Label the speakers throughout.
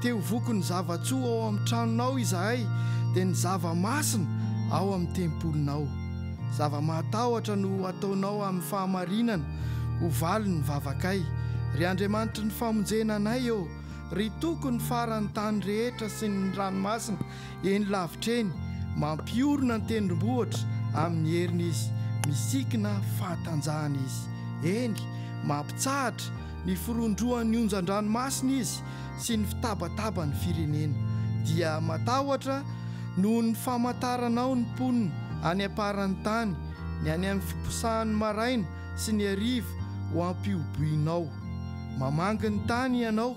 Speaker 1: Te ho vokon'ny zava-tsoa ao amin'ny tranonao izahay, dia ny zava-masina ao amin'ny tempolinao. Zava-mahatahotra no ho ataonao amin'ny fahamarinana, ho valin'ny vavakay. Ry Andriamanitry ny famonjena anay ô, ry Tokon'ny faran'ny tany rehetra sy ny ranomasina, Eny lavitra eny, mampiorina ny tendrombohitra amin'ny heriny izy, misikina fahatanjahana izy. Eny, mampitsahatra ny firondrohan'ny onjan-dranomasina izy sy ny fitabataban'ny firenena. Dia matahotra noho ny famantaranao ny mponina any am-paran'ny tany, ny any amin'ny fiposahan'ny maraina sy ny hariva ho ampihoboinao. Mamangy ny tany Ianao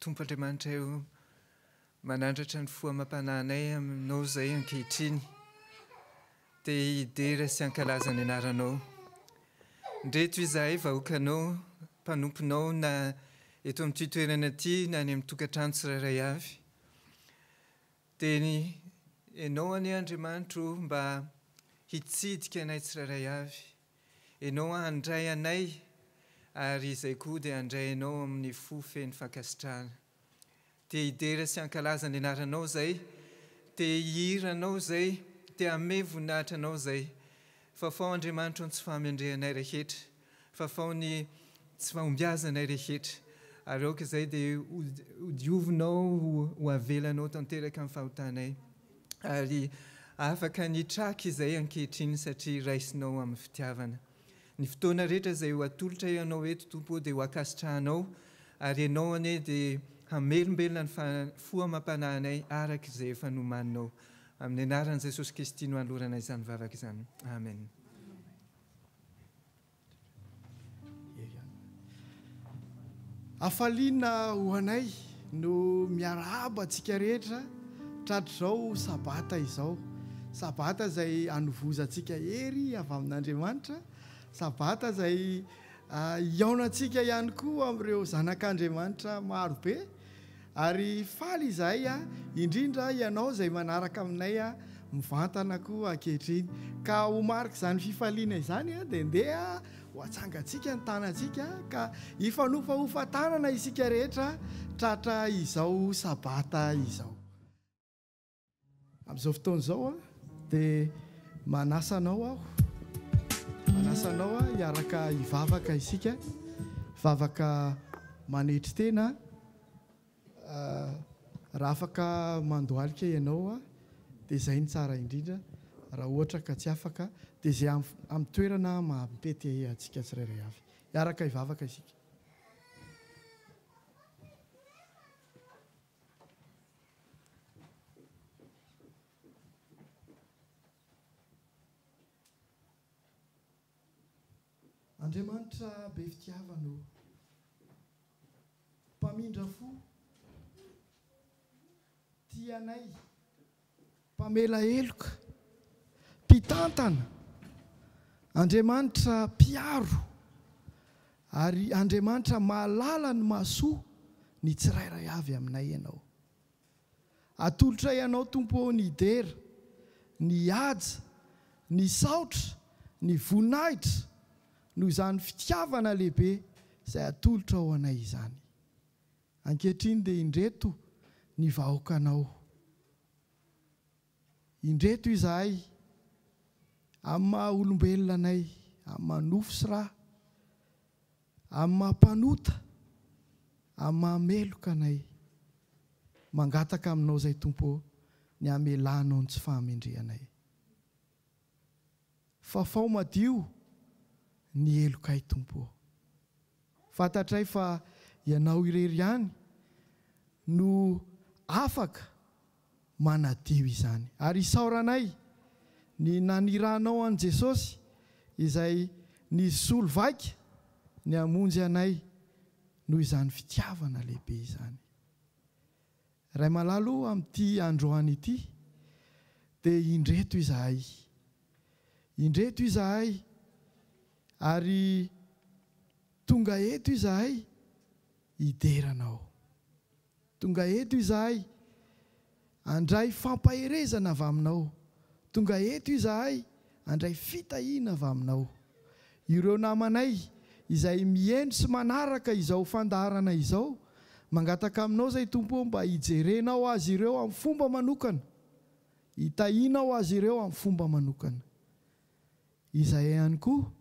Speaker 2: Tompo Andriamanitray o, manandratra ny fo amam-panahinay aminao izay ankehitriny, te hidera sy hankalaza ny anaranao. Ndreto izahay vahoakanao, mpanomponao na eto amin'ity toerana ity na any amin'ny tokantrano tsirairay avy, dia ny ianao anie Andriamanitro mba hitsidika anay tsirairay avy, Ianao handray anay, ary izay koa dia handray anao amin'ny fo feno fankasitrahana. Te hidera sy hankalaza ny anaranao izay, te hihira anao izay, te hamehy voninahitra anao izay. Fafao Andriamanitro ny tsy fahamendrehanay rehetra, fafao ny tsy fahombiazanay rehetra, ary aoka izay dia ho diovinao, ho avelanao tanteraka ny fahotanay. ary afaka ny hitraka izay ankehitriny satria raisinao amin'ny fitiavana. Ny fotoana rehetra izay ho atolotra ianao eto Tompo ô dia ho ankasitrahanao ary ianao anie dia hamelombelona ny fo amam-panahinay araka izay efa nomaninao. Amin'ny anaran'i Jesosy Kristy no anolorana izany vavaka izany. Amen.
Speaker 1: Hafaliana ho anay no miarahaba antsika rehetra tratr'izao Sabata izao. Sabata izay anovozantsika hery avy amin'Andriamanitra. Sabata izay hihaonantsika ihany koa amin'ireo zanak'Andriamanitra marobe. Ary faly izahay aho, indrindra ianao izay manaraka aminay mivantana koa ankehitriny. Ka ho marik'izany fifaliana izany, dia ndeha ho atsangantsika ny tanantsika, ka hifanofahofa tanana isika rehetra tratra izao Sabata izao. Amin'izao fotoana izao dia manasa anao aho, manasa anao aho hiaraka hivavaka isika, vavaka manetry tena. Raha afaka mandohalika ianao dia izay no tsara indrindra, raha ohatra ka tsy afaka dia izay amin'ny toerana maha-mety antsika tsirairay avy. Hiaraka hivavaka isika. Andriamanitra be fitiavana ô! Mpamindra fo, tia anay Mpamela heloka, Mpitantana, Andriamanitra mpiaro ary Andriamanitra mahalala ny mahasoa ny tsirairay avy aminay Ianao. Atolotray Anao Tompo ô ny dera, ny haja, ny saotra, ny voninahitra noho izany fitiavana lehibe izay atolotrao anay izany. Ankehitriny dia indreto ny vahoakanao. Indreto izahay, amin'ny maha olombelona anay, amin'ny maha nofo sy ra, amin'ny maha mpanota, amin'ny maha meloka anay. Mangataka aminao izay Tompo ô, ny hamelanao ny tsy fahamendrehanay. Fafao madio ny helokay Tompo ô. Fantatray fa Ianao irery ihany no afaka manadio izany. Ary isaoranay ny naniranao an'i Jesosy izay nisolo vaika ny hamonjy anay noho izany fitiavana lehibe izany. Ray malala o, amin'ity androany ity dia indreto izahay. Indreto izahay ary tonga eto izahay hidera Anao. Tonga eto izahay handray fampaherezana avy Aminao. Tonga eto izahay. Handray fitahiana avy aminao. Ireo namanay izay mihendry sy manaraka izao fandaharana izao, mangataka aminao izay Tompo ô mba hijerenao azy ireo amin'ny fomba manokana, hitahianao azy ireo amin'ny fomba manokana. Izahay ihany koa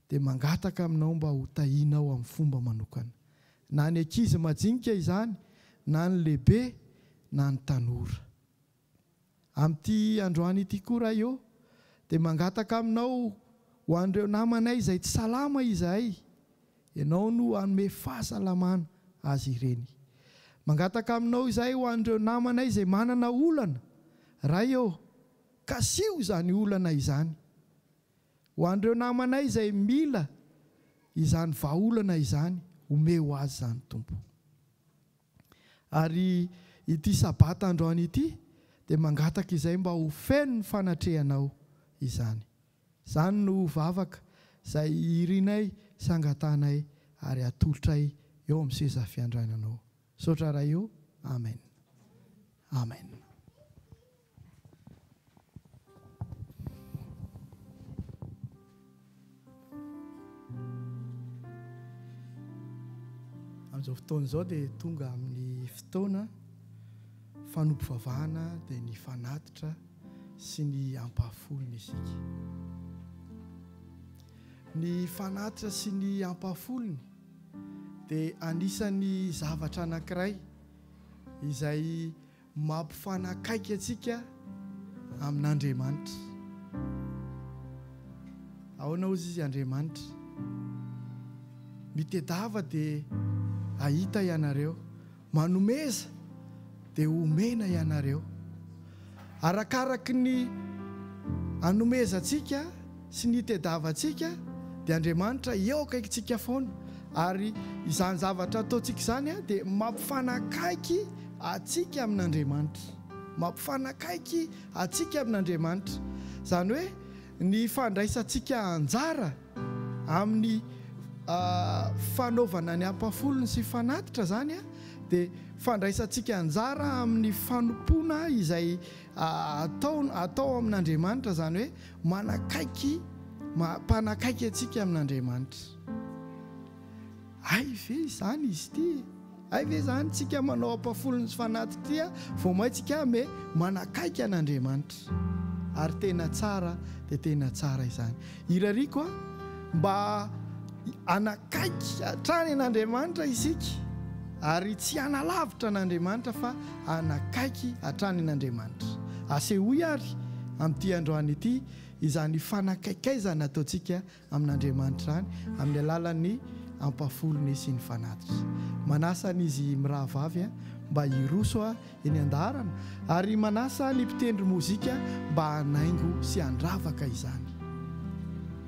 Speaker 1: dia mangataka aminao mba ho tahianao amin'ny fomba manokana. Na ny ankizy majinika izany, na ny lehibe, na ny tanora. Amin'ity androany ity koa Ray ô, dia mangataka Aminao ho an'ireo namanay izay tsy salama izahay, Ianao no hanome fahasalamana azy ireny. Mangataka Aminao izahay ho an'ireo namanay izay manana olana, Ray ô, kasiho izany olana izany. Ho an'ireo namanay izay mila izany vahaolana izany, omeo azy izany Tompo. Ary ity Sabata androany ity dia mangataka izay mba ho feno ny fanatrehanao izany. Izany no vavaka izay irinay sy angatanay ary atolotray eo amin'ny seza fiandrainanao. Misaotra Ray ô. Amen. Amen. Amin'izao fotoana izao dia tonga amin'ny fotoana fanompivavahana dia ny fanatitra sy ny ampahafolony isika. Ny fanatitra sy ny ampahafolony dia anisan'ny zavatra anankiray izay Mampifanakaiky antsika amin'Andriamanitra. Ahoana hozy Izy Andriamanitra? Mitedava dia ahita ianareo, manomeza dia homena ianareo. Arakaraky ny anomezantsika, sy ny itediavantsika dia Andriamanitra eo akaikintsika foana ary izany zavatra ataontsika izany dia mampifanakaiky antsika amin'Andriamanitra mampifanakaiky antsika amin'Andriamanitra izany hoe ny fandraisantsika anjara amin'ny fanaovana ny ampafolony sy fanatitra izany dia fandraisantsika anjara amin'ny fanompoana izay atao atao amin'Andriamanitra izany hoe Manakaiky, mpanakaiky antsika amin'Andriamanitra. Hay ve izany izy ity e? Hay ve izany tsika manao ampafolony sy fanaty ity a? Vao maintsika aho me manakaiky an'Andriamanitra. Ary tena tsara dia tena tsara izany. Irariako a, mba hanakaiky hatrany an'Andriamanitra isika ary tsy hanalavitra an'Andriamanitra fa hanakaiky hatrany an'Andriamanitra. Asehoy àry amin'ity androany ity izany fanakaikaizana ataontsika amin'Andriamanitra izany amin'ny alalan'ny ampahafolony sy ny fanatitra. Manasa an'izy mirahavavy mba hiroso eny an-daharana ary manasa ny mpitendry mozika mba hanaingo sy handravaka izany.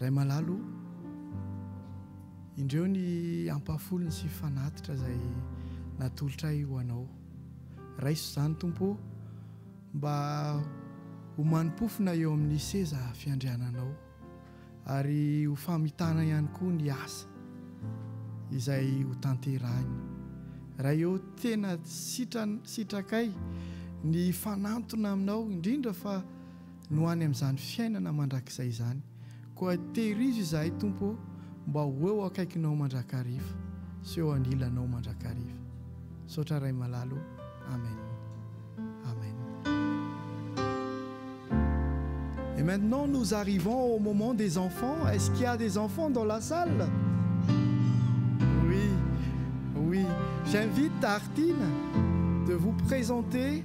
Speaker 1: Ray malala o, indreo ny ampahafolony sy fanatitra izay natolotra ahy ho Anao. Raiso izany, Tompo ô, mba ho mani-pofona eo amin'ny seza fiandriananao, ary ho famitana ihany koa ny asa izay ho tanterahiny. Ray ô, tena sitran, sitrakay ny hifanantona Aminao, indrindra fa no any amin'izany fiainana mandrakizay izany, koa tehirizo izahay Tompo ô mba ho eo akaikinao mandrakariva sy eo anilanao mandrakariva. Misaotra Ray malala ô. Amen. Amen. Et maintenant nous arrivons au moment des enfants, est-ce qu'il y a des enfants dans la salle? Oui, oui, j'invite Artine de vous présenter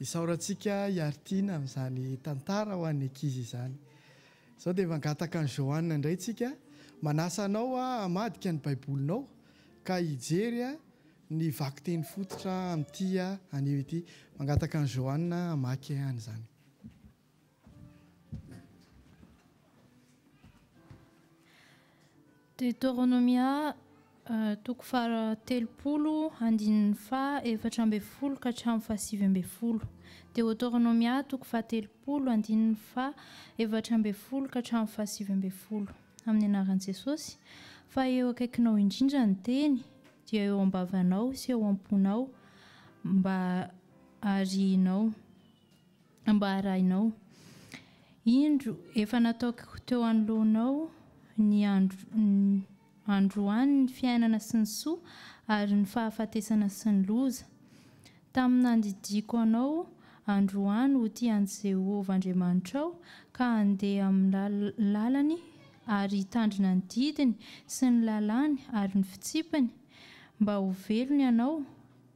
Speaker 1: Isaorantsika Iartina amin'izany tantara ho an'ny ankizy izany. Izao dia mangataka an'i Johanna indray tsika, manasa anao hamadika ny Baibolinao ka hijery ny vakiteny fototra amin'ity anio ity. Mangataka an'i Johanna hamaky an'izany.
Speaker 3: Deoteronomia, toko faha telopolo, andininy faha efatra ambin'ny folo ka hatramin'ny faha sivy ambin'ny folo. Deoteronomia, toko faha telopolo, andininy faha efatra ambin'ny folo ka hatramin'ny faha sivy ambin'ny folo. Amin'ny anaran'i Jesosy, fa eo akaikinao indrindra ny teny, dia eo am-bavanao sy eo am-ponao, mba harihinao. Mba arahinao. Indro, efa nataoko teo anoloanao ny androany ny fiainana sy ny soa, ary ny fahafatesana sy ny loza. Tamin'ny nandidiako anao androany ho tia an'i Jehovah Andriamanitrao, ka handeha amin'ny lalany ary hitandrina ny didiny sy ny lalàny ary ny fitsipiny, mba ho velona ianao,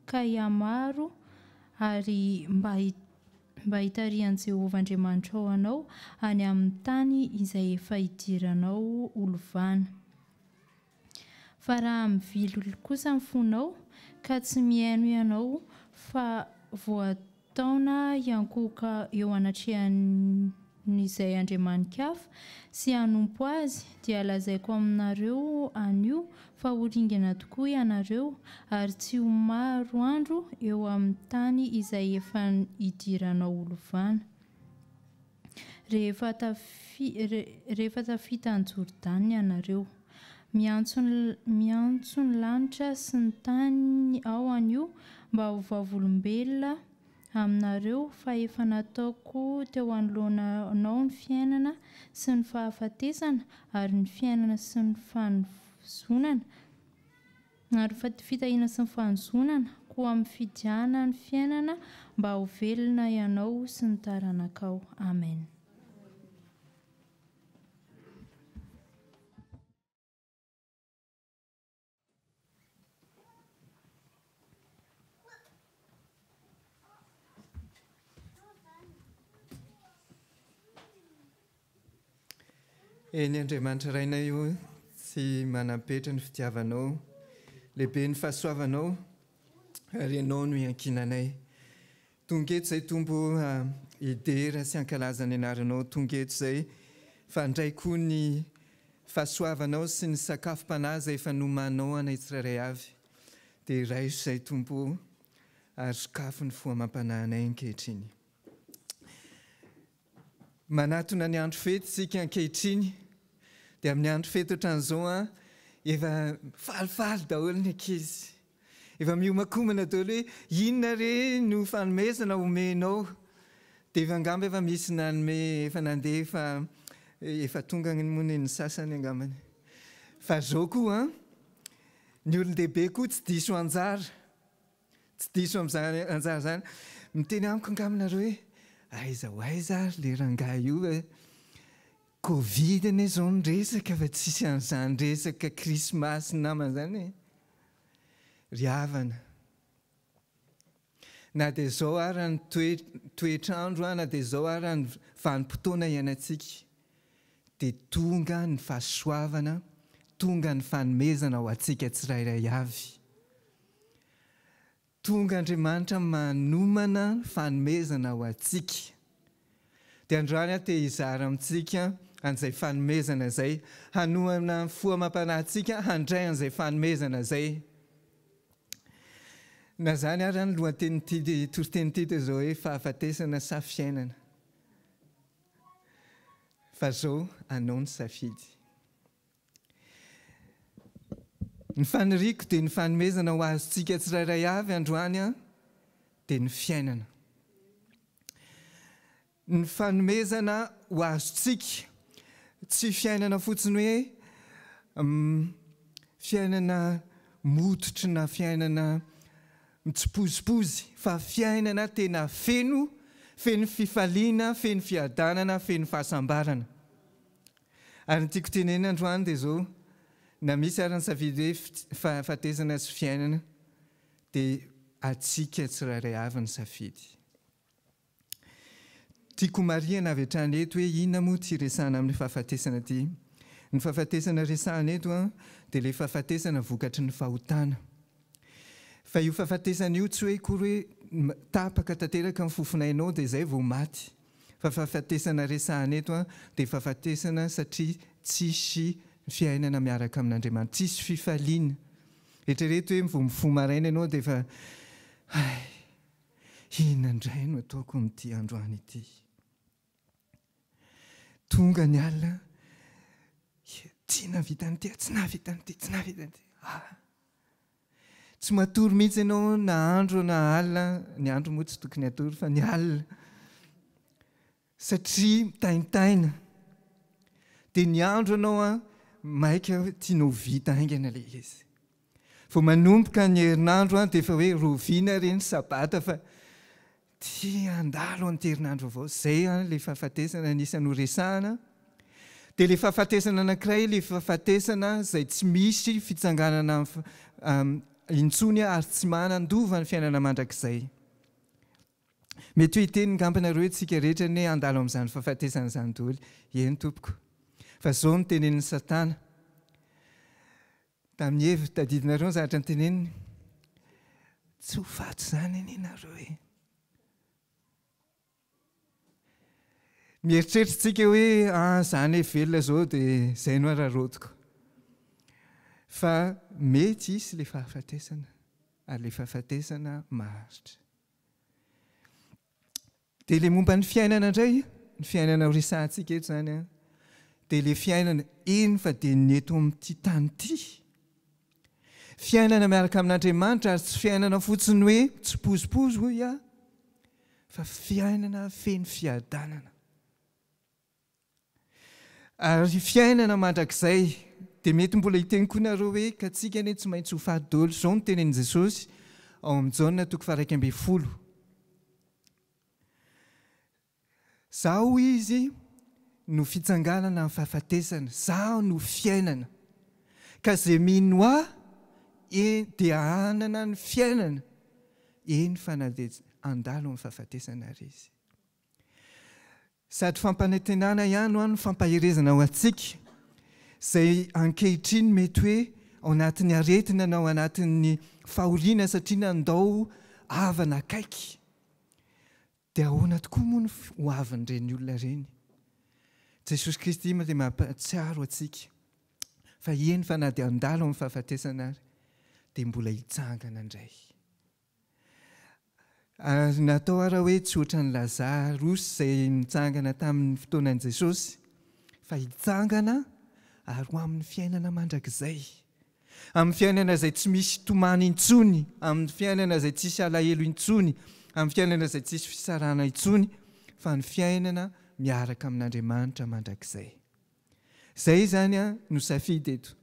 Speaker 3: ka hihamaro ary mba mba hitarihan'i Jehovah Andriamanitrao anao any amin'ny tany izay efa hidiranao ho lovana. Fa raha mivily kosa ny fonao, ka tsy mihaino ianao, fa voataona hiankohoka eo anatrehan'ny ny izay andriamani-kafa, sy hanompo azy, dia lazaiko aminareo anio fa ho ringana tokoa ianareo, ary tsy ho maro andro eo amin'ny tany izay efa hidiranao ho lovana, rehefa rehefa tafita an'i Jordana ianareo. Miantso ny miantso ny lanitra sy ny tany aho anio mba ho vavolombelona, aminareo fa efa nataoko teo anoloanao ny fiainana sy ny fahafatesana ary ny fiainana sy ny fanozonana ary ny fitahiana sy ny fanozonana, koa mifidiana ny fiainana mba ho velona ianao sy ny taranakao. Amen.
Speaker 2: Eny Andriamanitra Rainay o, tsy manam-petra ny fitiavanao, lehibe ny fahasoavanao ary ianao no iankinanay. Tonga eto zay Tompo a hidera sy hankalaza ny anaranao tonga eto zay fa handray koa ny fahasoavanao sy ny sakafom-panahy zay efa nomanao anay tsirairay avy dia raiso zay Tompo o ary sokafo ny fo amam-panahinay ankehitriny. Manatona ny andro fety isika ankehitriny dia amin'ny andro fety ohatran'izao an, efa falifaly daholo ny ankizy, efa miomakomana daholo hoe inona re no fanomezana omenao, dia efa angamba efa misy nanome efa nandeha efa efa tonga ny moa ny sasany angambany. Fa zao koa an, ny olon-dehibe koa tsy diso anjara. Tsy diso amin'izany anjara izany. Miteny amiko angamba nareo hoe aiza ho aiza ary le rangahy io e. Covid anie izao ny resaka fa tsisy an'izany resaka krismasy sy namana izany e. Ry havana, na dia izao ara ny toetr'andro na dia izao ara ny vanim-potoana iainantsika dia tonga ny fahasoavana, tonga ny fanomezana ho antsika tsirairay avy. Tonga Andriamanitra manomana fanomezana ho antsika. Dia androany aho te hizara amintsika an'izay fanomezana izay, hanohana ny fo amam-panahy antsika handray an'izay fanomezana izay. Na izany ary ny lohatenin'ity toriteny ity dia izao hoe fahafatesana sa fiainana. Fa izao anao ny safidy. Ny faniriako dia ny fanomezana ho azontsika tsirairay avy androany dia ny fiainana. Ny fanomezana ho azontsika, tsy fiainana fotsiny hoe fiainana mototry na fiainana mitsipozipozy fa fiainana tena feno, feno fifaliana, feno fiadanana, feno fahasambarana. Ary ny tiako tenenina androany dia izao, na misy ary ny safidy hoe fahafatesana sy fiainana dia antsika tsirairay avy ny safidy. Tiako homarihana avy hatrany eto hoe inona moa ity resahana amin'ny fahafatesana ity. Ny fahafatesana resahana eto dia ilay fahafatesana vokatry ny fahotana. Fa io fahafatesana io tsy hoe akory hoe tapaka tanteraka ny fofonainao dia izay vao maty. Fa fahafatesana resahana eto an, dia fahafatesana satria tsisy fiainana miaraka amin'Andriamanitra, tsisy fifaliana. Eritrereto hoe vao mifoha maraina ianao dia efa hay, inona indray no ataoko amin'ity androany ity? Tonga ny alina, tsy nahavita an'ity aho, tsy nahavita an'ity, tsy nahavita an'ity, ah! Tsy matory mihitsy ianao na andro na alina, ny andro moa tsy tokony hatory fa ny alina, satria mitaintaina. Dia ny andro ianao an, maika tianao ho vita haingana ilay izy. Vao manomboka ny herinandro an, dia efa hoe rovina re ny sabata fa Tsy handalo an'ity herinandro vaovao izay ilay fahafatesana anisan'ny ho resahana. Dia ilay fahafatesana anankiray ilay fahafatesana izay tsy misy fitsanganana intsony ary tsy manandova ny fiainana mandrakizay. Mety hoe hiteny ngamba nareo isika rehetra ny hoe handalo amin'izany fahafatesana izany daholo. Eny tompoko. Fa izao no tenenin'i Satana. Tamin'ny heviny tadidinareo ny zavatra noteneniny. Tsy ho faty izany anie nareo e! Mieritreritra tsika hoe ah za ne velona zao de zay no araraotiko. Fa mety hisy le fahafatesana ary le fahafatesana maharitra. Dia ilay momba ny fiainana indray, ny fiainana ho resahantsika eto izany an, dia ilay fiainana eny fa dia ny eto amin'ity tany ity. Fiainana miaraka amin'Andriamanitra ary tsy fiainana fotsiny hoe mitsipozipozy hoy aho, fa fiainana feno fiadanana. Ary fiainana mandrakizay. Dia mety mbola hiteny koa nareo hoe, ka tsika anie tsy maintsy ho faty dolo. Izao no tenenin'i Jesosy ao amin'ny Jaona toko faha iraika ambin'ny folo. Zaho hoy izy no fitsanganana amin'ny fahafatesana. Zaho no fiainana. Ka ze mino ahy eny dia hanana ny fiainana eny fa na dia handalo amin'ny fahafatesana ary izy. Sady fampanantenana ihany hoa no fampaherezana ho antsika, izay ankehitriny mety hoe ao anatin'ny aretina na ao anatin'ny fahoriana satria nandao havana akaiky. Dia ahoana tokoa moa ny ho avin'ireny olona ireny? Jesosy Kristy dia mampahatsiaro antsika fa eny fa na dia handalo amin'ny fahafatesana ary dia mbola hitsangana indray. Ary natao ara hoe tsy ohatran'i Lazarosy izay nitsangana tamin'ny fotoanan'i Jesosy, fa hitsangana ary ho amin'ny fiainana mandrakizay, amin'ny fiainana izay tsy misy tomany intsony, amin'ny fiainana izay tsisy alahelo intsony, amin'ny fiainana izay tsisy fisarahana intsony, fa ny fiainana miaraka amin'Andriamanitra mandrakizay. Izay izany no safidy eto.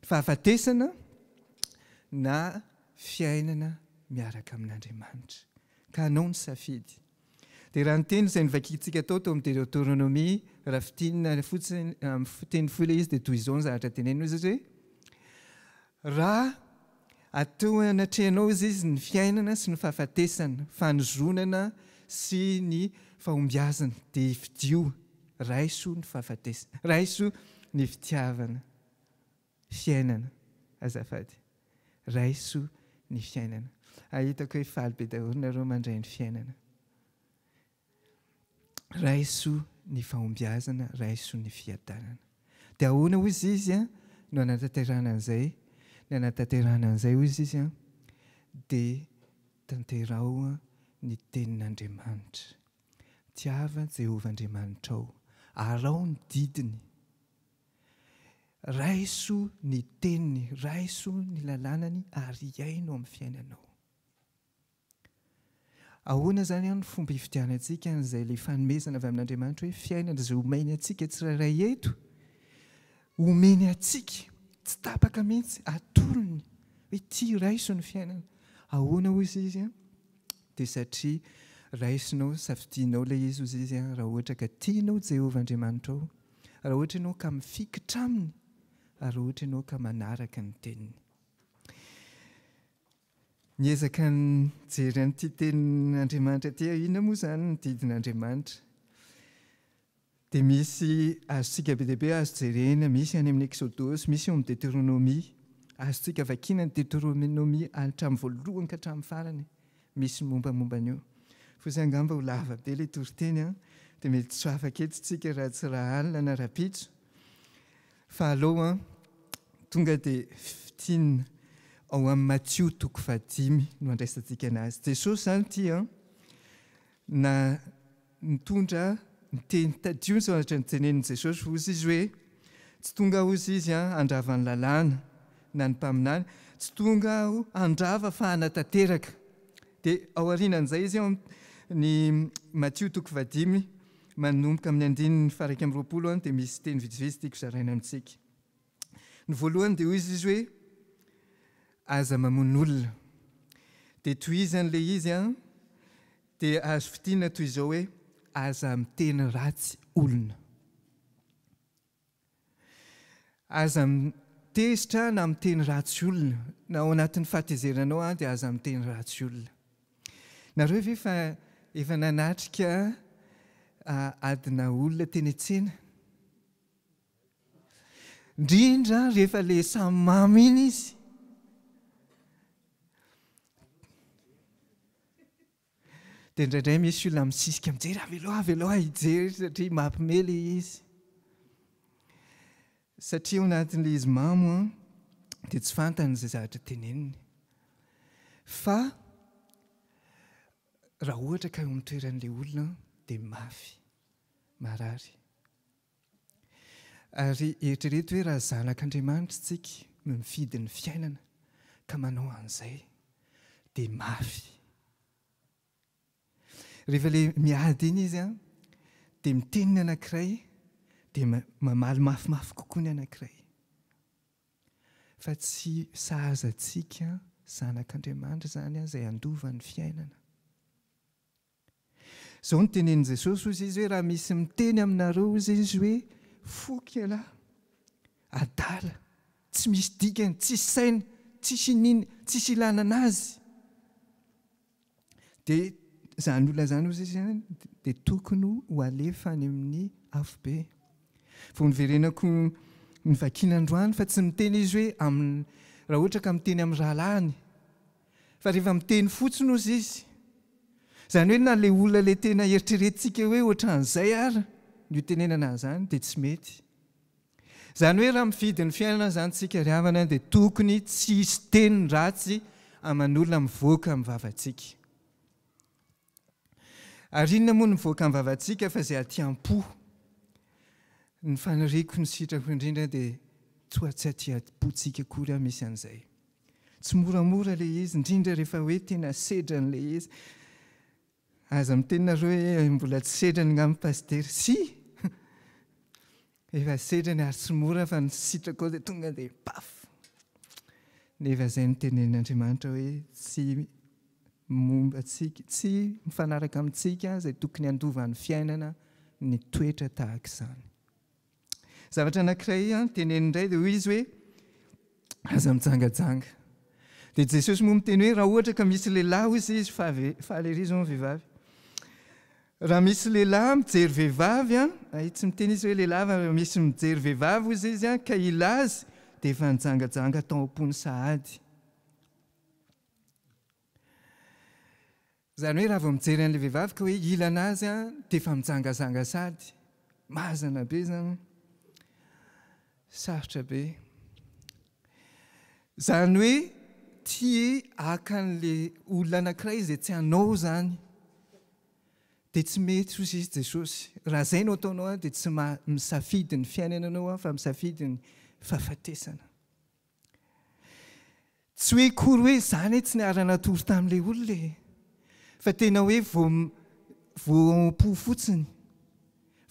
Speaker 2: Fahafatesana na fiainana miaraka amin'Andriamanitra. Ka anao ny safidy. Dia raha ny teny izay novakintsika tao tao amin'ny Deoteronomia, raha fintinina fotsiny amin'ny teny fohy ilay izy dia toy izao ny zavatra teneniny hoe, raha. Atoa anatrehanao ozy izy ny fiainana sy ny fahafatesana, fanozonana sy ny fahombiazana dia fidio, raiso ny fahafatesana, raiso ny fitiavana, fiainana azafady, raiso ny fiainana. Ahy hitako hoe faly be daholo nareo mandray ny fiainana. Raiso ny fahombiazana, raiso ny fiadanana. Dia ahoana hoy izy izy an, no hanatanterahana an'izay? Ny hanatanterahana an'izay hoy izy izy an, dia tanteraho ny tenin'Andriamanitra. Tiava Jehovah Andriamanitrao. Araho ny didiny. Raiso ny teniny, raiso ny lalànany ary hiaino amin'ny fiainanao. Ahoana izany no fomba hifidianantsika an'izay ilay fanomezana avy amin'Andriamanitra hoe fiainana izay omeny antsika tsirairay eto? Omeny antsika, tsy tapaka mihitsy, atolony hoe tia raiso ny fiainana. Ahoana hozy izy an? Dia satria raisonao, safidianao ilay izy hozy izy an, raha ohatra ka tianao Jehovah Andriamanitrao, raha ohatra ianao ka mifikitra aminy, ary raha ohatra ianao ka manaraka ny teniny. Niezaka nijery an'ity tenin'Andriamanitra ity aho, inona moa izany ny didin'Andriamanitra? Dia misy azontsika be dia be azo jerena, misy any amin'ny Eksodosy, misy eo amin'ny Deteronomia. Azontsika vakiana ny Deteronomia hatramin'ny voalohany ka hatramin'ny farany, misy ny mombamomba an'io. Fa izay angamba ho lava be ilay toriteny an, dia mety tsy ho afaka eto isika raha tsy raha alina na rahampitso. Fa alou an, tonga dia fintinina ao amin'ny Matio toko fahadimy no handraisantsika an'azy. Jesosy izany ity an, na nitondra ny teny, tadidio ny zavatra nitenenin'i Jesosy, hoy izy hoe, tsy tonga aho hoy izy an, handrava ny lalàna na ny mpaminany, tsy tonga aho handrava fa hanatanteraka. Dia ao aorianan'izay izy ao amin'ny Matio toko fahadimy, Manomboka amin'ny andininy faha-iraika amby roapolo any dia misy teny vitsivitsy tiako zaraina amintsika. Ny voalohany dia hoy izy hoe, aza mamono olona. Dia tohizany ilay izy an, dia azo fintinina toy izao hoe, aza miteny ratsy olona. Aza mitezitra na miteny ratsy olona. Na ao anatin'ny fahatezerinanao ary dia aza miteny ratsy olona. Nareo ve fa efa nanatrika adina olona teny an-tsena? Indrindra rehefa ilay samy mamo iny izy. Dia indraindray misy olona misisika mijery, avelao, avelao aho hijery satria mampime ilay izy. Satria ao anatin'ilay izy mamo an, dia tsy fantany izay zavatra teneniny. Fa raha ohatra ka eo amin'ny toeran'ilay olona dia mafy, marary. Ary eritrereto hoe raha zanak' Andriamanitra isika no nifidy ny fiainana ka manao an'izay dia mafy. Rehefa ilay miady iny izy an, dia miteny ny anankiray dia mamaly mafimafy kokoa ny anankiray. Fa tsy sahaza antsika zanak' Andriamanitra izany izay handova ny fiainana. Izao no tenenin'i Jesosy hozy izy hoe raha misy miteny aminareo hozy izy hoe foky ialahy, adala, tsy misy dikany, tsisy saina, tsisy iniana, tsisy ilana anazy, dia izany olona izany hozy izy dia tokony ho alefa any amin'ny afobe. Vao niverenako nivakiana androany fa tsy miteny izy hoe amin'ny raha ohatra ka miteny amin'ny rahalahiny. Fa rehefa miteny fotsiny ozy izy, izany hoe na ilay olona ilay tena eritreretintsika hoe ohatran'izay ary ny hotenenana an'izany dia tsy mety. Izany hoe raha mifidy ny fiainana izany isika ry havana dia tokony tsy hisy teny ratsy aman'olona mivoaka amin'ny vavantsika. Ary inona moa no mivoaka am-bavantsika fa izay aty am-po. Ny faniriako, ny sitrako indrindra dia toa tsy aty am-pontsika akory aho misy an'izay. Tsy moramora ilay izy, indrindra rehefa hoe tena sedrany ilay izy. Aza miteny nareo hoe mbola tsy sedrany ngamba Pasitera. Tsia! Efa setrany ary tsy mora fa ny sitraka ao dia tonga dia paf! Nefa izay no tenenin'Andriamanitra hoe tsy momba antsika, tsy mifanaraka amintsika izay tokony handovan'ny fiainana ny toetra tahaka izany. Zavatra anankiray teneniny indray dia hoy izy hoe aza mijangajanga. Dia Jesosy moa miteny hoe raha ohatra ka misy lehilahy hoy izy fa fa lery izy moa vehivavy. Raha misy lehilahy mijery vehivavy an, ay tsy miteny izy hoe lehilahy fa raha misy mijery vehivavy hozy izy an, ka ilazy dia efa nijangajanga tao am-pony sahady. Izany hoe raha vao mijery an'ilay vehivavy ka hoe ila anazy an, dia efa mijangazanga sahady. Mazana be izany. Sarotra be. Izany hoe tia haka an'ilay olona anankiray izay tsy anao izany, dia tsy mety hoy sisa Jesosy. Raha izay no ataonao dia tsy misafidy ny fiainana ianao fa misafidy ny fahafatesana. Tsy hoe akory hoe izany tsy niara-natory tamin'ilay olona e! Fa tena hoe vao vao ao am-po fotsiny,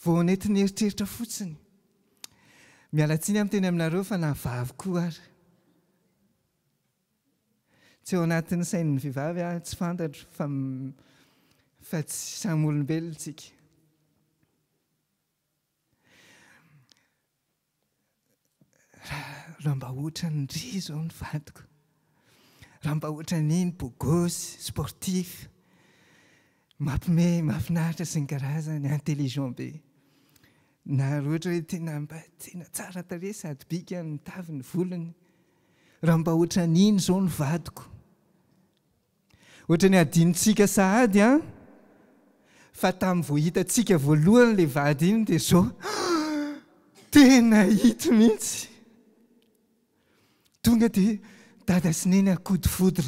Speaker 2: vao nentin'ny eritreritra fotsiny. Miala tsiny amin'ny teny aminareo fa na vavy koa ary. Tsy ao anatin'ny sain'ny vehivavy aho, tsy fantatro fa fa tsy samy olombelona isika. Raha mba ohatran'ny ry izao ny vadiko, raha mba ohatran'iny beau gosse, sportif, mampime, mahafinaritra sy ny karazany, intelligent be. Na raha ohatra hoe tena mba tena tsara tarehy sady bika ny taviny, volony. Raha mba ohatran'iny izao ny vadiko. Ohatran'ny hadinontsika sahady an! Fa tamin'ny vao hitantsika voalohany ilay vady iny dia izao tena ito mihitsy! Tonga dia Dada sy Neny akodifodir!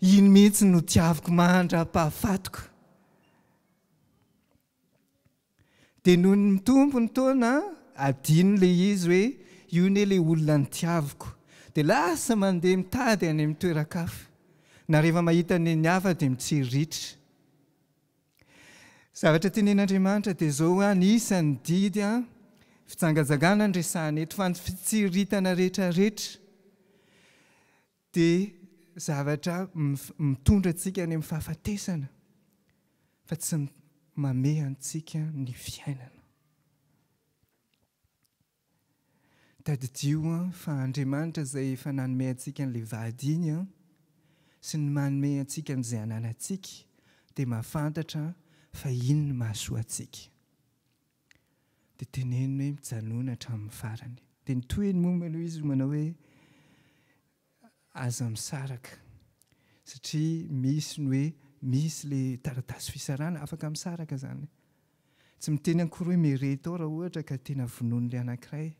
Speaker 2: Iny mihitsy no tiaviko mandra-pahafatiko! Dia nony mitombo ny taona adino ilay izy hoe io anie ilay olona nitiaviko. Dia lasa mandeha mitady any amin'ny toeran-kafa. Na rehefa mahita ny an'ny hafa dia mitsiriritra. Zavatra tenen'Andriamanitra dia izao hoe anisan'ny didy fijangajangana no resahina eto fa ny fitsiriritana rehetrarehetra. Dia zavatra mitondra antsika any amin'ny fahafatesana fa tsy mamehy antsika ny fiainana. Tadidio fa Andriamanitra izay efa nanome antsika an'ilay vady iny sy ny manome antsika an'izay ananantsika dia mahafantatra fa iny ny mahasoa antsika. Dia teneniny hoe mijanona hatramin'ny farany. Dia ny tohiny moa aloha izy no manao hoe aza misaraka satria misy ny hoe misy ilay taratasy fisarahana, afaka misaraka izany. Tsy miteny akory hoe mireto ao raha ohatra ka tena vonoin'ilay anankiray.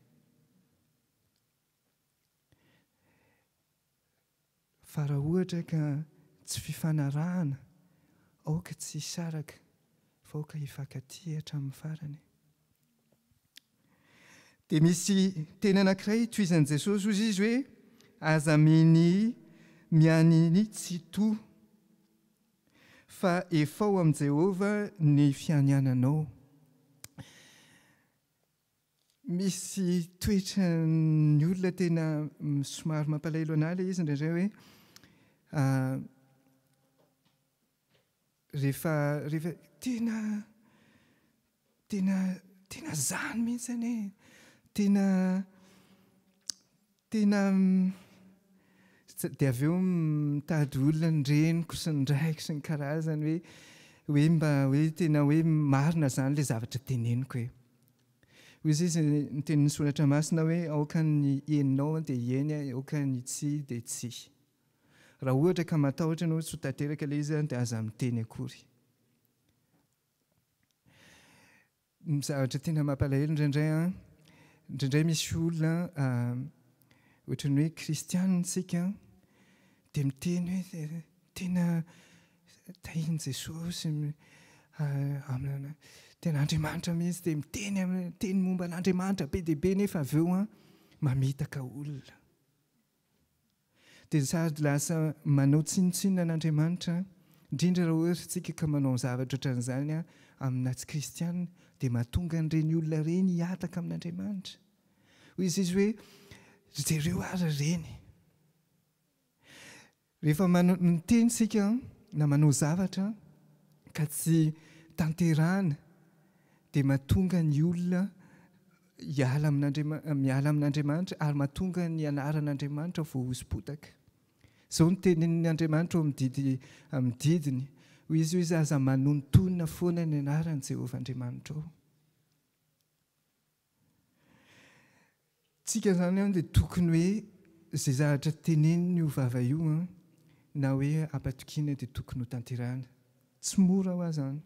Speaker 2: Fa raha ohatra ka tsy fifanarahana, aoka tsy hisaraka, fa aoka hifankatia hatramin'ny farany. Dia misy teny anankiray tohizan'i Jesosy, hoy izy hoe, Aza mini mianini tsito, fa efao amin'i Jehovah ny fianiananao. Misy toetran'ny olona tena somary mampalahelo an'ahy ilay izy indraindray hoe rehefa rehefa tena tena tena izany mihitsy anie e! Tena Tena dia avy eo mitady olona ny reniko sy ny raiko sy ny karazany hoe hoe mba hoe tena hoe marina izany ilay zavatra teneniko e. Hoy izy izy ny tenin'ny soratra masina hoe aoka ny henonao dia heny aho aoka ny tsia dia tsia. Raha ohatra ka matahotra ianao tsy ho tanteraka ilay izy dia aza miteny akory. Ny zavatra tena mampalahelo indraindray an, indraindray misy olona ohatran'ny hoe kristianina isika dia miteny hoe tena tahin'i Jesosy aminy, tena Andriamanitra mihitsy dia miteny miteny momba an'Andriamanitra be dia be nefa avy eo mamitaka olona. Dia sady lasa manao tsinontsinona an'Andriamanitra, indrindra raha ohatra isika ka manao zavatra ohatran'izany amina tsy kristiana, dia mahatonga an'ireny olona ireny hihataka amin'Andriamanitra. Hoy izy izy hoe, Ry jereo ary ireny. Rehefa miteny isika na manao zavatra ka tsy tanterahana, dia mahatonga ny olona Hiala amin'Andriamanitra, miala amin'Andriamanitra ary mahatonga ny anaran'Andriamanitra ho voahosipotaka. Izao no tenin'ny Andriamanitra ao amin'ny didy, amin'ny didiny, hoy Izy, Hoy Izy, Aza manontonona foana ny anaran'i Jehovah Andriamanitrao. Tsika izany an, dia tokony hoe izay zavatra tenenin'io vava io an, na hoe ampatokiana dia tokony ho tanterahina. Tsy mora ho'a izany,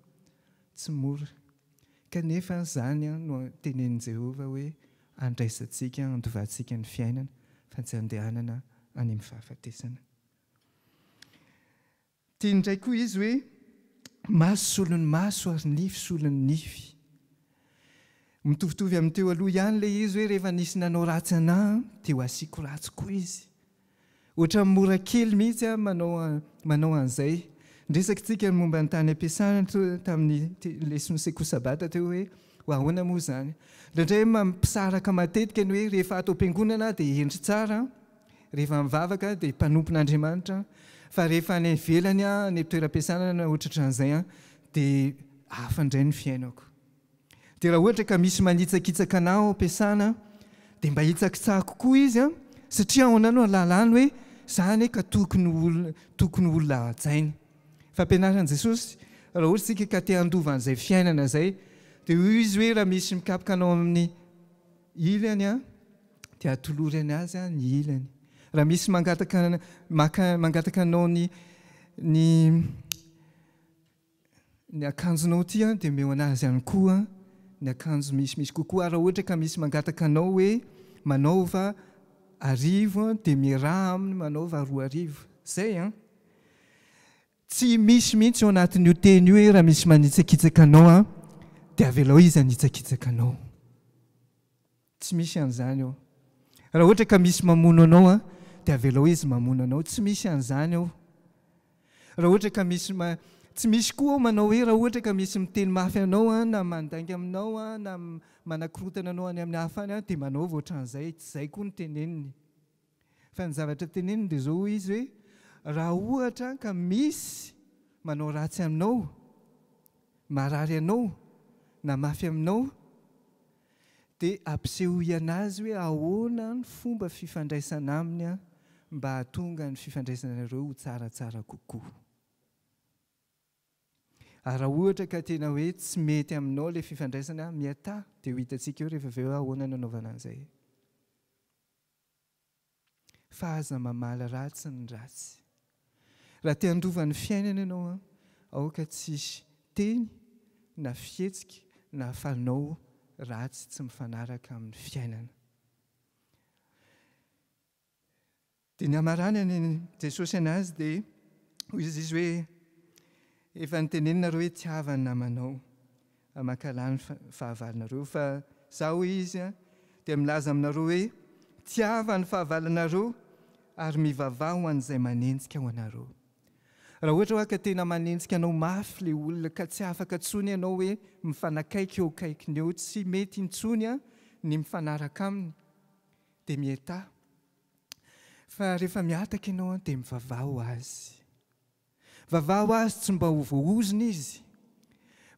Speaker 2: tsy mora. Kanefa, izany no tenenin'i Jehovah hoe, Andraisantsika, andovantsika ny fiainana, fa tsy andehanana any amin'ny fahafatesana. Tiany indray koa izy hoe, Maso solon'ny maso ary nify solon'ny nify. Mitovitovy amin'ny teo aloha ihany ilay izy hoe, Rehefa nisy nanao ratsy anà, dia ho asiako ratsy koa izy. Ohatran'ny mora kely mihitsy an manao manao an'izay. Niresaka tsika ny momba ny tany ampiasana tamin'ny lesona sekoly sabata teo hoe ho ahoana moa izany. Indraindray mampisaraka matetika ny hoe rehefa ato am-piangonana aho dia hendry tsara, rehefa mivavaka aho dia mpanompon'Andriamanitra, fa rehefa any ivelany aho, any am-toeram-piasana na ohatraohatran'izay an, dia hafa indray ny fiainako. Dia raha ohatra ka misy manitsakitsaka anao ao am-piasana dia mba hitsakitsako koa izy an! satria ao anao no ahalalany hoe za anie ka tokony ho tokony ho olona hajaina. Fampianaran'i Jesosy raha ohatra isika ka te handova an'izay fiainana izay dia hoy izy hoe raha misy mikapoka anao amin'ny ilany an! dia atolory an azy an ny ilany. Raha misy mangataka maka mangataka anao ny ny Ny akanjonao ity an dia omeo anazy ihany koa ny akanjo misy misy kokoa ary raha ohatra ka misy mangataka anao hoe manaova arivo an dia miaraha aminy manaova roa arivo. Izay an! Tsy misy mihitsy ao anatin'io teny io hoe raha misy manitsakitsaka anao an dia avelao izy hanitsakitsaka anao. Tsy misy an'izany ao. Raha ohatra ka misy mamono anao an, dia avelao izy mamono anao. Tsy misy an'izany ao. Raha ohatra ka misy ma, tsy misy koa ao manao hoe raha ohatra ka misy miteny mafy anao an, na mandainga aminao an, na manakorontana anao any amin'ny hafa any an, dia manaova ohatran'izay. Tsy izay koa no teneniny. Fa ny zavatra teneniny dia izao, hoy izy hoe, Raha ohatra ka misy manao ratsy aminao, marary anao, na mafy aminao, dia ampisehoy anazy hoe ahoana ny fomba fifandraisana aminy mba hahatonga ny fifandraisanareo ho tsaratsara kokoa. Ary raha ohatra ka tena hoe tsy mety aminao ilay fifandraisana, mihatà, dia ho hitantsika eo rehefa avy eo hoe ahoana ny hanaovana an'izay. Fa aza mamaly ratsy ny ratsy. Raha te handova ny fiainana ianao an, aoka tsy hisy teny na fihetsika na fanao ratsy tsy mifanaraka amin'ny fiainana. Dia ny hamaranan'i Jesosy anazy dia hoy izy hoe efa nitenenina reo hoe tiava ny namanao. Mankahala ny fahavalonareo fa Izaho, hoy Izy, dia milaza aminareo hoe, Tiava ny fahavalonareo ary mivavaha ho an'izay manenjika ho anareo. Raha ohatra hoa ka tena manenjika anao mafy ilay olona ka tsy afaka intsony ianao hoe mifanakaiky eo akaikiny eo, tsy mety intsony ny mifanaraka aminy, dia mietaha. Fa rehefa mihataka ianao dia mivavaha ho azy. Vavaho Azy tsy mba ho voahozona izy,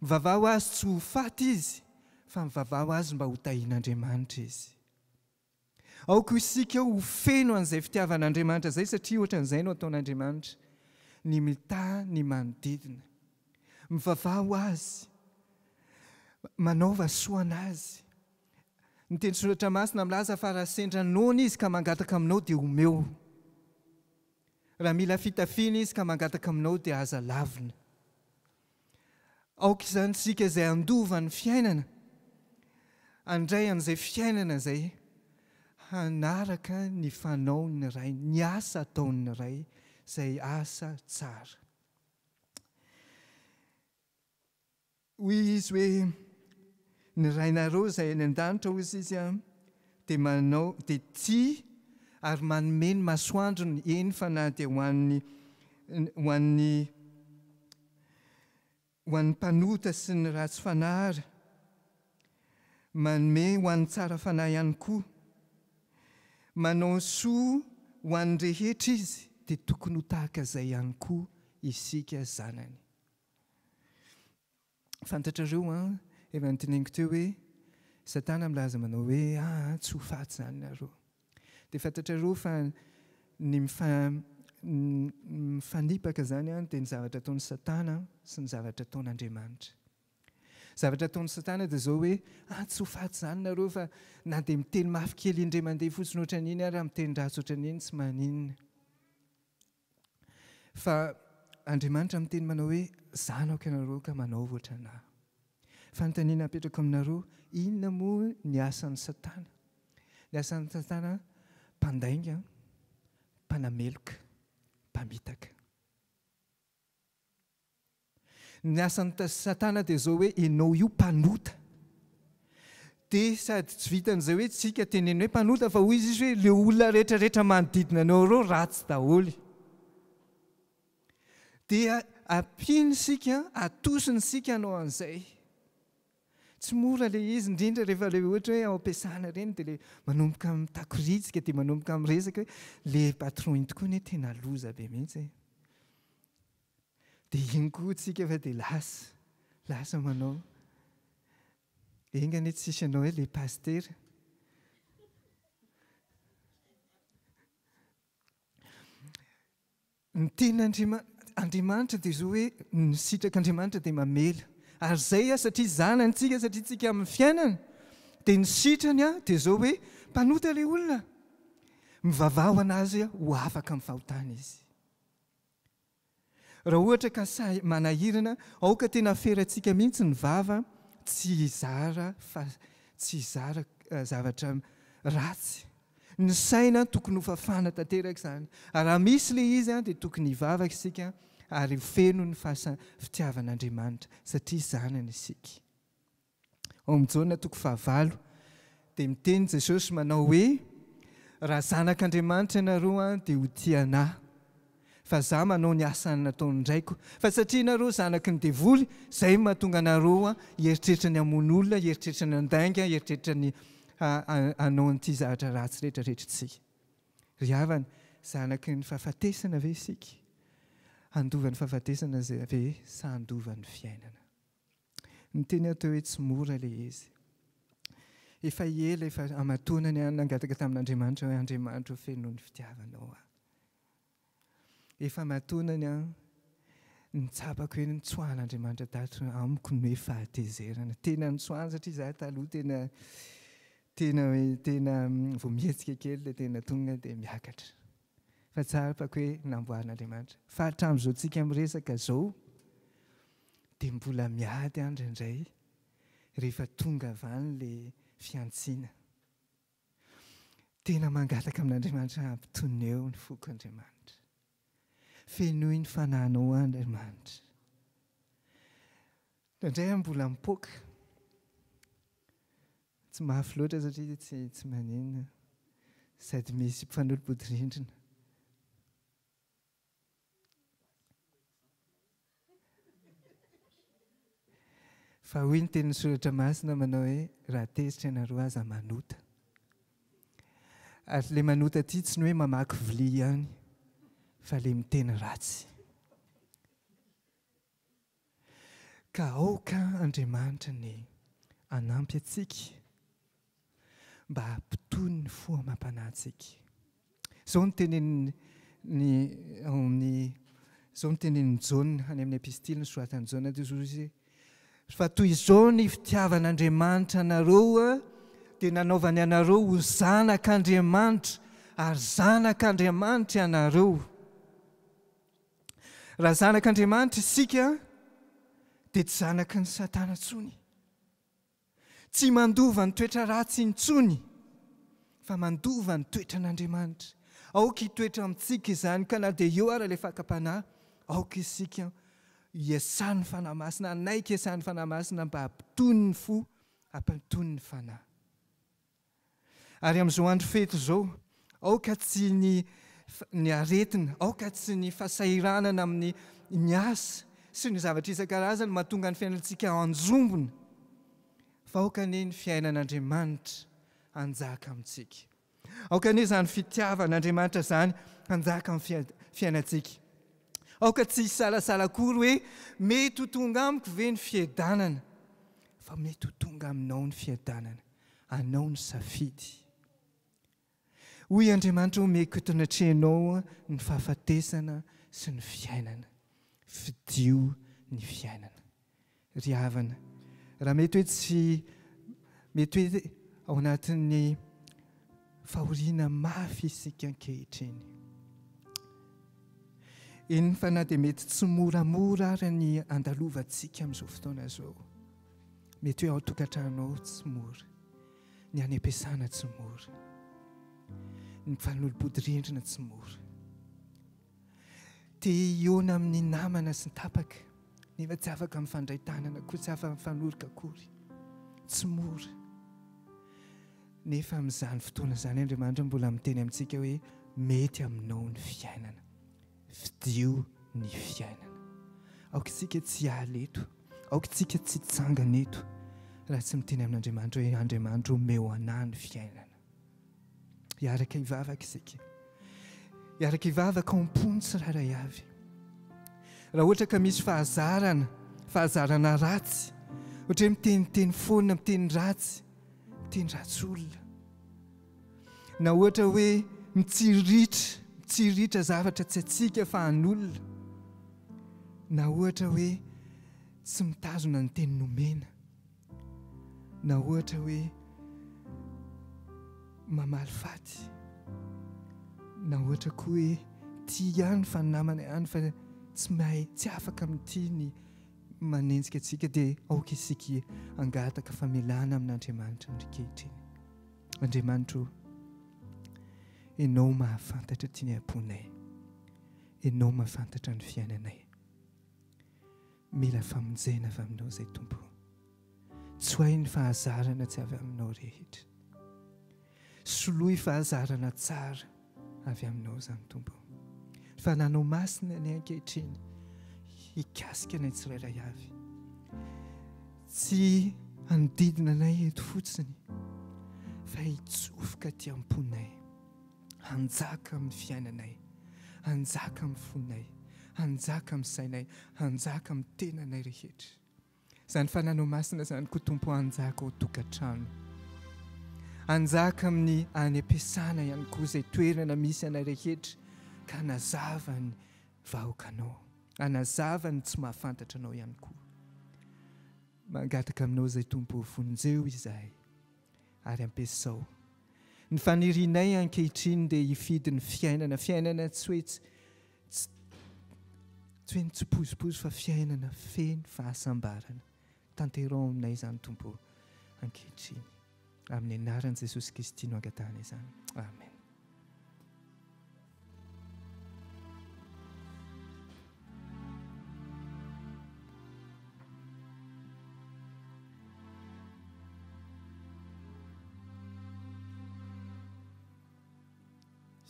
Speaker 2: mivavaho Azy tsy ho faty izy, fa mivavaho Azy mba ho tahian'Andriamanitra izy. Aoka isika ho feno an'izay fitiavan'Andriamanitra izay, satria ohatran'izay no ataon'Andriamanitra, ny mitaha ny manodidina, mivavaho Azy, manaova soa an'Azy. Ny teny soratra masina milaza fa raha sendra noana izy ka mangataka aminao dia omeo. Raha mila fitafiana izy ka mangataka aminao dia aza lavina. Aoka izany isika izay handova ny fiainana, handray an'izay fiainana izay, hanaraka ny fanaon'ny Ray, ny asa ataon'ny Ray, izay asa tsara. Hoy izy hoe, Ny Rainareo izay any an-danitra, hoy izy, dia manao, dia tia ary manome ny masoandrony, eny fa na dia ho an'ny, ho an'ny, ho an'ny mpanota sy ny ratsy fanahy ary. Manome ho an'ny tsara fanahy ihany koa. Manao soa ho an'ny rehetra izy, dia tokony ho tahaka izay ihany koa isika zanany. Fantatrareo an, efa noteneniko teo hoe Satana milaza manao hoe ah tsy ho faty izany nareo. Dia fantatrareo fa ny mifanipaka izany an dia ny zavatra ataon'i Satana sy ny zavatra ataon'Andriamanitra. Zavatra ataon'i Satana dia izao hoe ah tsy ho faty izany nareo fa na dia miteny mafy kely indray mandeha fotsiny ohatran'iny ary miteny ratsy ohatran'iny tsy maninona. Fa Andriamanitra miteny manao hoe, Zanako ianareo ka manaova ohatran'Ahy. Fanontaniana apetrako aminareo, inona moa ny asan'i Satana? Ny asan'i Satana, mpandainga, mpanameloka, mpamitaka. Ny asan'i satana dia izao hoe enao io mpanota. Dia sady tsy vitan'izay hoe tsika teneno hoe mpanota fa hoy izy hoe le olona rehetra rehetra manodidina anao ireo ratsy daholo. Dia ampiany isika, atosiny isika hanao an'izay. Tsy mora le izy indrindra rehefa le ohatra hoe ao am-piasana ireny dia le manomboka mitakoriantsika dia manomboka miresaka hoe le patron iny tokoa anie tena loza be mihitsy e. Dia iny koa tsika fa dia lasa, lasa manao. Enga anie tsisy anao eo le pasitera. Ny tenin'Andriamanitra Andriamanitra dia zao hoe ny sitrak'Andriamanitra dia mamela. Ary zay aho satria zanany tsika satria tsika amin'ny fiainana dia ny sitrany aho dia zao hoe mpanota le olona. Mivavaha ho an'azy aho ho afaka amin'ny fahotana izy. Raha ohatra ka sahy manahirana, aoka tena aferatsika mihitsy ny vava tsy hizara fa tsy hizara zavatra ratsy. Ny saina tokony hofafana tanteraka izany, ary raha misy ilay izy dia tokony hivavaka isika ary ho feno ny fasa fitiavan'Andriamanitra satria zanany isika. Ao amin'ny Jaona toko fahavalo dia miteny Jesosy manao hoe, Raha zanak'Andriamanitra ianareo dia ho tia ana, fa izaho manao ny asa nataon'ny Raiko. Fa satria ianareo zanaky ny devoly, izay no mahatonga anareo hieritreritra ny hamono olona, hieritreritra ny handainga, hieritreritra ny hanao an'ity zavatra ratsy rehetra rehetra ity. Ry havana, zanaky ny fahafatesana ve isika? Handova ny fahafatesana ve sa handova ny fiainana? Niteny aho teo hoe tsy mora ilay izy. Efa ela efa hamatonany aho nangataka tamin'Andriamanitra hoe Andriamanitra o feno ny fitiavanao aho. Efa hamatonany aho nitsapako hoe nitsoahan'Andriamanitra tato amiko ny hoe fahatezerana. Tena nitsoahany satria izaho taloha tena tena hoe tena vao mihetsika kely dia tena tonga dia miakatra. fa tsara fa ko hoe namboarin'Andriamanitra fa hatramin'izao tsika miresaka zao dia mbola miady an indraindray rehefa tonga avy any le fiantsiana tena mangataka amin'Andriamanitra hampitoneo ny foko Andriamanitra fenoy ny fananao an Andriamanitra indraindray an mbola mipoaka Tsy mafy loatra satria tsy tsy maneno sady misy mpifanolo-bodirindrina. Fa hoy ny tenin'ny soratra masina manao hoe raha tezitra ianareo aza manota. Ary le manota aty tsy ny hoe mamaky vilia ihany fa le miteny ratsy. Ka aoka Andriamanitra anie hanampy antsika mba hampitony ny fo amam-panahintsika. Izao no tenenin'ny ao amin'ny izao no tenenin'i Jaona any amin'ny epistily nosoratan'i Jaona teo izy fa toy izao ny fitiavan'Andriamanitra anareo dia nanaovany anareo ho zanak'Andriamanitra ary zanak'Andriamanitra ianareo. Raha zanak' Andriamanitra isika dia tsy zanaky ny Satana intsony. Tsy mandova ny toetra ratsy intsony fa mandova ny toetran' Andriamanitra. Aoka hitoetra amintsika izany ka na dia eo ara ilay fakam-panahy, aoka isika hiasan' ny Fanahy Masina, hanaiky hiasan' ny Fanahy Masina mba hampitony ny fo, hampitony ny fanahy. Ary amin'izao andro fety izao, aoka tsy ny ny aretina, aoka tsy ny fahasahiranana amin'ny ny asa sy ny zavatra isan-karazany mahatonga ny fiainantsika hanjombona, fa aoka anie ny fiainan'Andriamanitra hanjaka amintsika. Aoka anie izany fitiavan'Andriamanitra izany hanjaka amin'ny fiainantsika. Aoka tsy hisalasala akory hoe mety ho tonga amiko ve ny fiadanana, fa mety ho tonga aminao ny fiadanana. Anao ny safidy. Hoy Andriamanitra, Omeko eto anatrehanao ny fahafatesana sy ny fiainana. Fidio ny fiainana. Ry havana, raha mety hoe tsy, mety hoe ao anatin'ny fahoriana mafy isika ankehitriny. Eny fa na dia mety tsy moramora ary ny andalovantsika amin'izao fotoana izao. Mety hoe ao an-tokantrano ao tsy mora, ny any am-piasana tsy mora, ny mifanolobodirindrina tsy mora. Te hihaona amin'ny namana sy ny tapaka nefa tsy afaka mifandray tanana akory, tsy afaka mifanoroka akory. Tsy mora. Nefa amin'izany fotoana izany Andriamanitra mbola miteny amintsika hoe mety aminao ny fiainana. Fidio ny fiainana. Aoka isika tsy hiala eto, aoka isika tsy hitsangana eto raha tsy miteny amin'Andriamanitra hoe, Andriamanitra ô, omeo anà ny fiainana. Hiaraka hivavaka isika. Hiaraka hivavaka ao am-pony tsirairay avy. Raha ohatra ka misy fahazarana, fahazarana ratsy, ohatra hoe miteniteny foana, miteny ratsy, miteny ratsy olona, Na ohatra hoe mitsiriritra, mitsiriritra zavatra tsy antsika fa an'olona. Na ohatra hoe tsy mitazona ny teny nomena. Na ohatra hoe mamaly faty. Na ohatra koa hoe tia ihany fa ny namana ihany fa tsy mahay, tsy afaka mitia ny manenjika antsika dia aoka isika hangataka famelana amin'Andriamanitra ny ankehitriny. Andriamanitro, Ianao mahafantatra ity ny am-ponay. Ianao mahafantatra ny fiainanay. Mila famonjena avy Aminao izay Tompo. Tsoahy ny fahazarana tsy avy Aminao rehetra. Soloy fahazarana tsara. avy Aminao izany, Tompo ô. Fa nanao masina ny ahy ankehitriny, hikasika anay tsirairay avy. Tsy hanodidina anay eto fotsiny, fa hitsofoka aty am-ponay, hanjaka amin'ny fiainanay, hanjaka amin'ny fonay, hanjaka amin'ny sainay, hanjaka amin'ny tenanay rehetra. Izany fananao masina izany ko Tompo hanjaka ao tokantrano. Hanjaka amin'ny any am-piasana ihany koa izay toerana misy anay rehetra ka hanazava ny vahoakanao. Hanazava ny tsy mahafantatra anao ihany koa. Mangataka aminao izay Tompo vonjeo izahay. Ary ampiasao. Ny fanirianay ankehitriny dia hifidy ny fiainana, fiainana tsy hoe tsy, tsy, tsy hoe mitsipozipozy fa fiainana feno fahasambarana. Tanteraho aminay izany Tompo ô, ankehitriny. Amin'ny anaran'i Jesosy Kristy no angatahana izany. Amen.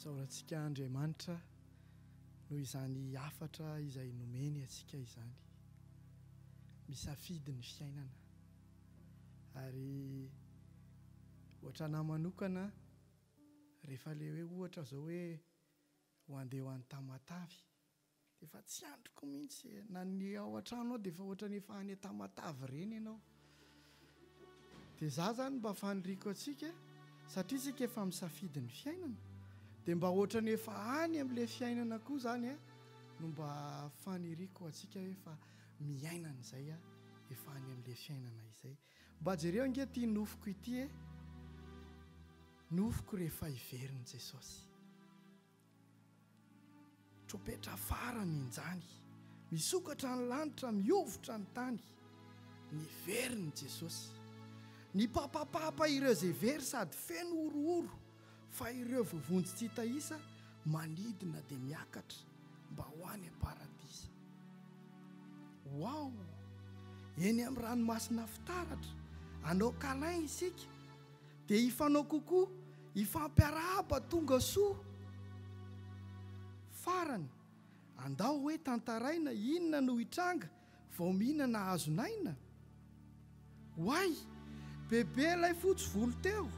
Speaker 1: Isaorantsika Andriamanitra noho izany hafatra izay nomeny antsika izany. Misafidy ny fiainana. Ary hoatr'anahy manokana, Rehefa le hoe ohatra zao hoe ho andeha ho any Tamatave de efa tsy andriko mihitsy e! na ny ao an-trano ao de efa ohatra ny efa any Tamatave ireny ianao de za zany mba faniriako antsika satria isika efa misafidy ny fiainana de mba ohatra ny efa any amin'ilay fiainana koa zany a no mba faniriako antsika hoe efa miaina an'izay a efa any amin'ilay fiainana izay Mba jereo ange ity nofoko ity e! Nofoko rehefa hiverin'i Jesosy. Tropetra farany injany. Misokatra ny lanitra, mihovitra ny tany. Niverin'i Jesosy. Nipapapapa ireo izay very sady feno horohoro. Fa ireo vovonjy tsy hita isa manidina dia miakatra mba ho any am-paradisa. Waouh! Eny amin'ny ranomasina fitaratra, anao câlin isika, dia hifanao coucou, hifampiarahaba tonga soa. Farany, andao hoe tantaraina inona no hitranga vao mihinana hazon'aina? Oay! Bebe ilay fotsy volo teo!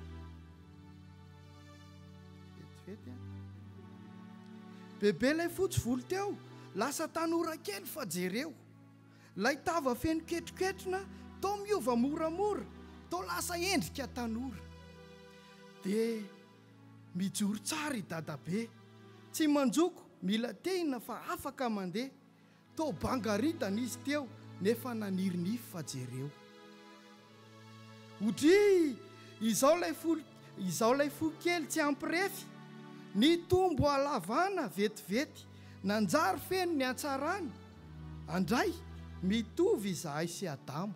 Speaker 1: Vetivety an! Bebe ilay fotsy volo teo! Lasa tanora kely fa jereo! Ilay tava feno ketroketrona toa miova moramora, toa lasa endrika tanora! Dia mijoro tsara i Dadabe, tsy manjoko, mila tehina fa afaka mandeha. Toa bangaritana izy teo nefa naniry nify fa jereo. Odriiy! Izao ilay fo izao ilay fo kely tsy ampy refy! Nitombo halavana vetivety, nanjary feno ny hatsarany. Andray, mitovy izahay sy Adamo.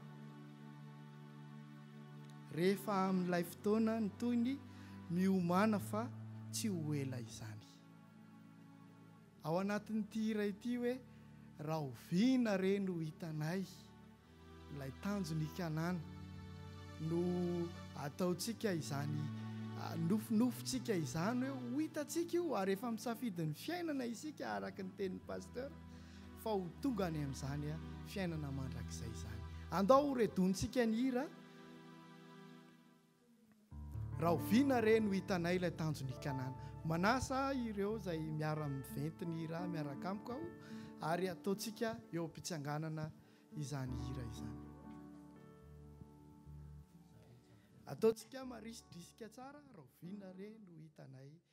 Speaker 1: Rehefa amin'ilay fotoana ny tohiny miomàna fa tsy ho ela izany. Ao anatin'ity hira ity hoe rahoviana re no hitanay ilay tanjon' i Kanana no ataontsika izany nofinofintsika izany hoe ho hitantsika io ary efa misafidy ny fiainana isika araka ny tenin'i Pasteur fa ho tonga any amin'izany fiainana mandrakizay izany. Andao horedontsika ny hira. Rahoviana re no hitanay ilay tanjon' i Kanana? Manasa ireo izay miara-miventy ny hira miaraka amiko aho, ary hataontsika eo am-pitsanganana izany hira izany. Ataontsika marisy drisika tsara, Rahoviana re no hitanay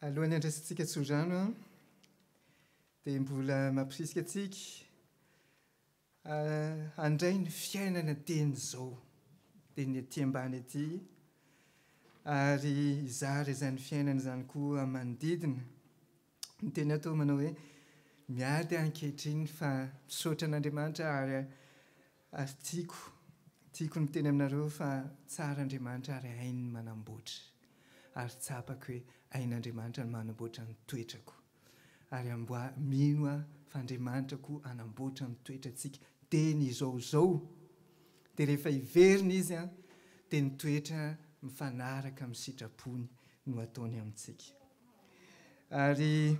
Speaker 2: Alohan'ny handraisantsika tsodrano dia mbola mampirisika antsika Handray ny fiainana teny izao, teny ety ambany ety, ary hizara izany fiainana izany koa manodidina. Ny teny atao manao hoe, Miady ankehitriny fa misaotra an'Andriamanitra ary ary tiako tiako ny miteny aminareo fa tsara Andriamanitra ary hainy ny manamboatra. Ary tsapako hoe hain'Andriamanitra ny manamboatra ny toetrako. Ary amboa mino aho fa Andriamanitra koa hanamboatra ny toetrantsika dia ny izao izao dia rehefa hiverina Izy an dia ny toetra mifanaraka amin'ny sitrapony no ataony amintsika. Ary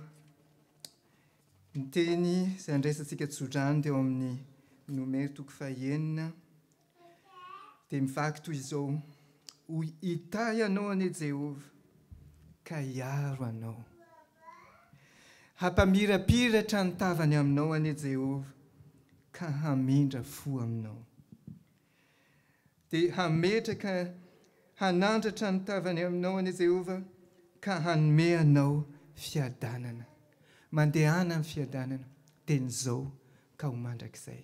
Speaker 2: ny teny izay andraisantsika tsodrano teo amin'ny Nomero toko fahenina, Dia mivaky toy izao, Hoy Itai anao anie Jehovah, ka hiaro anao. Hampamirapiratra ny tavany aminao anie Jehovah, ka hamindra fo aminao. Dia hametraka hanandratra ny tavany aminao anie Jehovah, ka hanome anao fiadanana. Mandehana amin'ny fiadanana, teny izao ka ho mandrakizay.